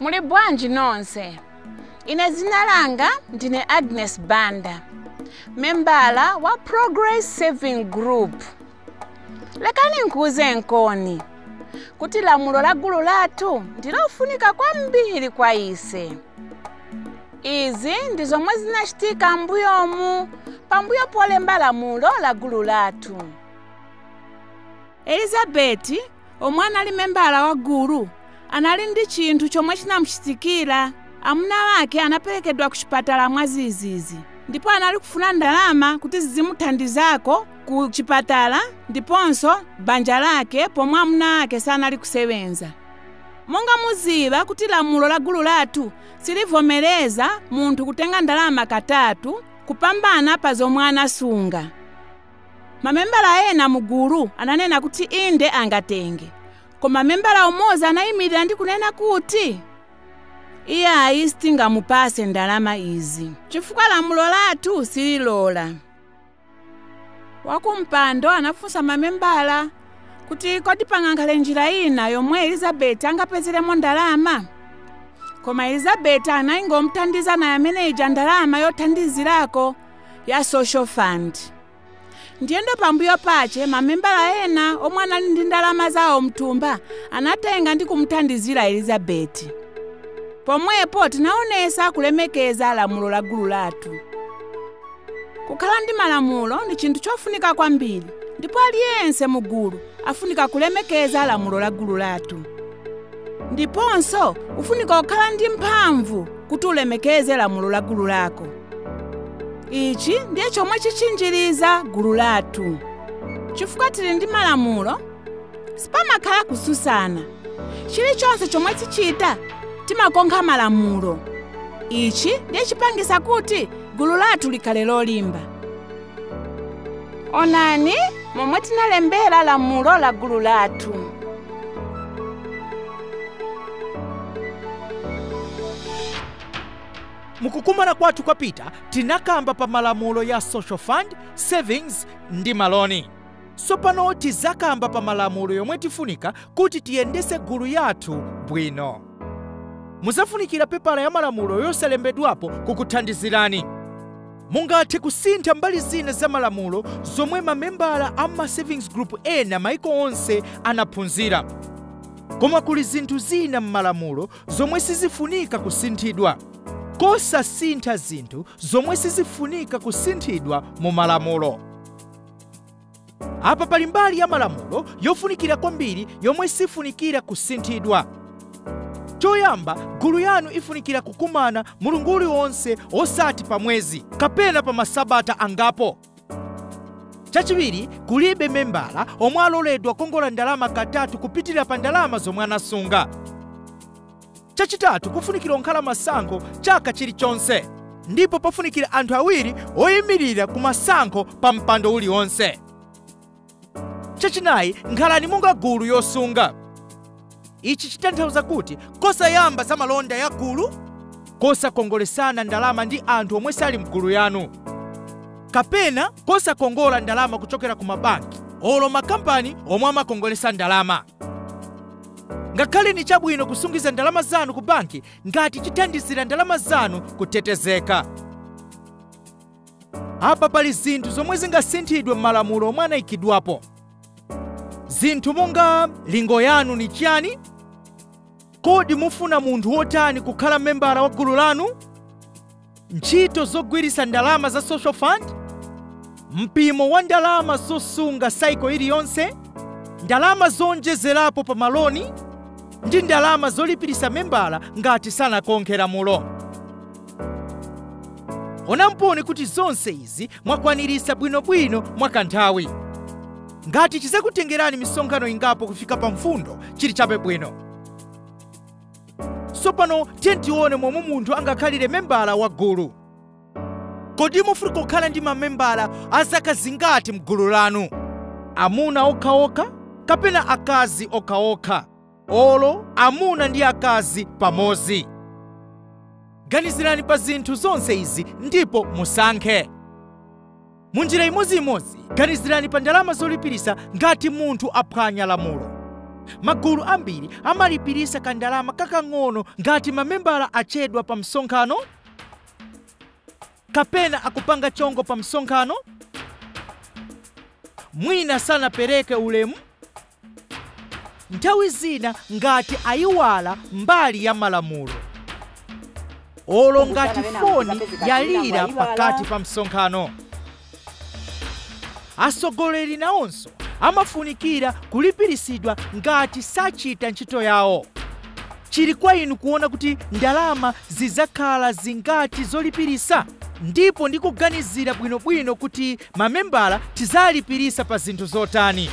Muli bwanji nonse? Ine dzina langa ndine Agnes Banda, membala wa Progress Saving Group. Lekani nikuuzenkoni kuti lamulo la gulu lathu ndi lofunika kwambiri kwa ise. Izi ndi zomwe zinachitika mbuyomu pambuyo polemba lamulo la gulu lathu. Elizabeti omwe anali membala wa gulu anali ndi chinthu chomwe chinamuchitikira amuna ake anaperekedwa ku chipatala mwazizizi ndipo anali kufuna ndalama kuti izimuthandizako ku chipatala ndiponso banja lake pomwe amuna ake sanali kusebenza monga muziba kuti lamulo la gulu lathu silivomereza munthu kutenga ndalama katatu kupambana pa zomwe anasunga Mamembala ena mu gulu ananena kuti inde angatenge, koma membala umozi anayimirira ndi kunena kuti, Iyayi sitingamupatse ndalama izi chifukwa lamulo lathu sililola. Wakumpando anafunsa mamembala kuti kodi pangakhale njira ina yomwe Elizabeti angapezeremo ndalama? Koma Elizabeti anayingomuthandiza naye amene ija ndalama yothandizirako ya social fund ndiyeno pambuyo pake mamembala ena omwe anali ndi ndalama zawo mthumba anatenga ndi kumuthandizira elizabeti pomwepo tinaonesa kulemekeza lamulo la gulu lathu kukhala ndi malamulo ndi chinthu chofunika kwambiri ndipo aliyense mu gulu afunika kulemekeza lamulo la gulu lathu ndiponso ufunika kukhala ndi mphamvu kuti ulemekeze lamulo la gulu lako ichi ndiye chomwe chichinjiriza gulu lathu chifukwa tili ndi malamulo sipamakhala kususana chilichonse chomwe tichita timakonkha malamulo ichi ndiye chipangisa kuti gulu lathu likhale lolimba onani momwe tinalembera lamulo la gulu lathu Mukukumana kwathu kwapita tinakamba pa malamulo ya social fund, savings ndi maloni. Tsopano tizakamba pa malamulo yomwe tifunika kuti tiyendese gulu yathu bwino. Muzafunikira pepala ya malamulo yosalembedwapo kukuthandizirani. Mungathe kusintha mbali zina za malamulo zomwe ma membala a ma savings group ena maiko onse anaphunzira. Koma kuli zinthu zina mmalamulo zomwe sizifunika kusinthidwa. kosasintha zinthu zomwe sizifunika kusinthidwa mu malamulo. Apa pali mbali ya malamulo yofunikira kwambiri yomwe sifunikira kusinthidwa. Choyamba, gulu yanu ifunikira kukumana mulungu uliwonse osati pa mwezi kapena pa masabata angapo. Chachiwiri, kulibe membala omwe aloledwa kukongola ndalama katatu kupitilira pa ndalama zomwe anasunga. Chachitatu, kufunikira kunkhala masankho chaka chilichonse ndipo pafunikira anthu awiri oyimilira ku masankho pa mpando uliwonse. chachinayi nkhalani monga gulu yosunga ichi chitanthauza kuti kosayamba za malonda ya gulu kosakongolesana ndalama ndi anthu omwe sali mgulu yanu kapena kosakongola ndalama kuchokera ku mabanki olo makampani omwe amakongolesa ndalama ngakhale ni chabwino kusungiza ndalama zanu ku banki ngati chithandizira ndalama zanu kutetezeka Apa pali zinthu zomwe zingasinthidwe m'malamulo omwe anaikidwapo. Zinthu monga lingo yanu ni chiyani? Kodi mufuna munthu wotani kukhala membala wa gulu lanu? Ntchito zogwiritsa ndalama za social fund? Mpimo wa ndalama zosunga saiko iliyonse? Ndalama zoonjezerapo pa maloni? Ndi ndalama zolipiritsa membala ngati sanakonkhe lamulo? onamponi kuti zonse izi mwakwanirisa bwinobwino mwakanthawi ngati chizakutengerani misonkhano ingapo kufika pa mfundo chili chabe bwino tsopano tiyeni tione momwe munthu angakhalire membala wa gulu kodi mufuna kukhala ndi mamembala a zaka zingati mgulu lanu amuna okhaokha kapena akazi okhaokha olo amuna ndi akazi pamodzi. Ganizirani pa zinthu zonse izi ndipo musankhe. Mu njira imodziimodzi, ganizirani pa ndalama zolipirisa ngati munthu aphwanya lamulo. Magulu ambiri amalipirisa kandalama kakang'ono ngati mamembala achedwa pa msonkhano kapena akupanga chongo pa msonkhano, mwina sanapereke ulemu nthawi zina ngati ayiwala mbali ya malamulo olo ngati foni yalira pakati pa msonkhano atsogoleri nawonso amafunikira kulipiritsidwa ngati sachita ntchito yawo chili kwa inu kuona kuti ndalama zidzakhala zingati zolipirisa ndipo ndi kuganizira bwinobwino kuti Mamembala tizalipilisa pa zinthu zotani?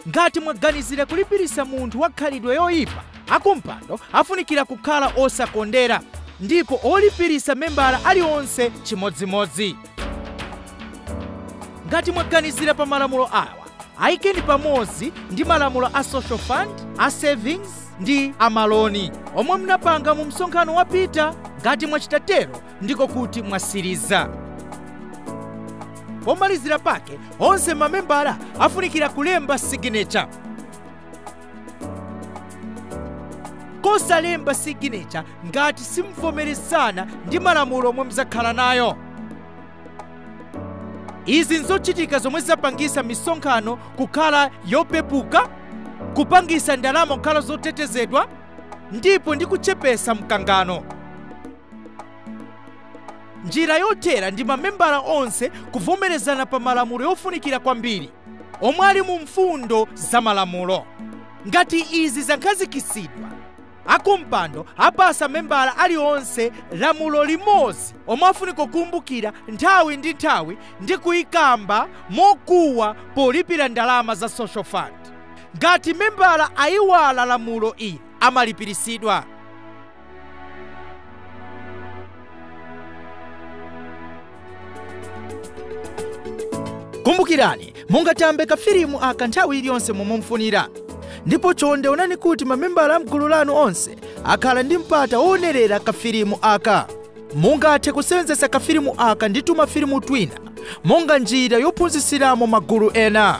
Ngati mwaganizila kulipilisa munthu wa khalidwe yoyipa, akumpando afunikila kukhala osakondera ndipo kulipilisa membala alionse chimodzimodzi. Ngati mwaganizila pa malamulo awa, ayikeni pamodzi ndi malamulo a Social Fund, a Savings ndi a Maloni omwe mnapanga mu msonkhano wapita. Ngati mwachita tero, ndiko kuti mwasiriza pomalizira pake onse mamembala afunikira kulemba siginecha kapena kusalemba siginecha ngati simvomerezana ndi malamulo omwe muzakhala nayo izi nzochitika zomwe zapangisa misonkhano kukhala yopepuka kupangisa ndalama kukhala zotetezedwa ndipo ndi kuchepesa mkangano njira yotere ndi mamembala onse kuvomerezana pa malamulo yofunikira kwambiri omwe ali mu mfundo za malamulo ngati izi zakhazikitsidwa akumpando apasa membala alionse lamulo limodzi omwe afunika kukumbukira nthawi ndi nthawi ndi kuyikamba mokuwa polipira ndalama za social fund ngati membala ayiwala lamulo ili amalipiritsidwa kumbukirani mungatambe kafilimu aka nthawi iliyonse momwe mufunira ndipo chonde onani kuti mamembala a mgulu lanu onse akhala ndi mpata woonerera kafilimu aka mungathe kusewenzetsa kafilimu aka ndi tumafilimu twina monga njira yophunzitsiramo magulu ena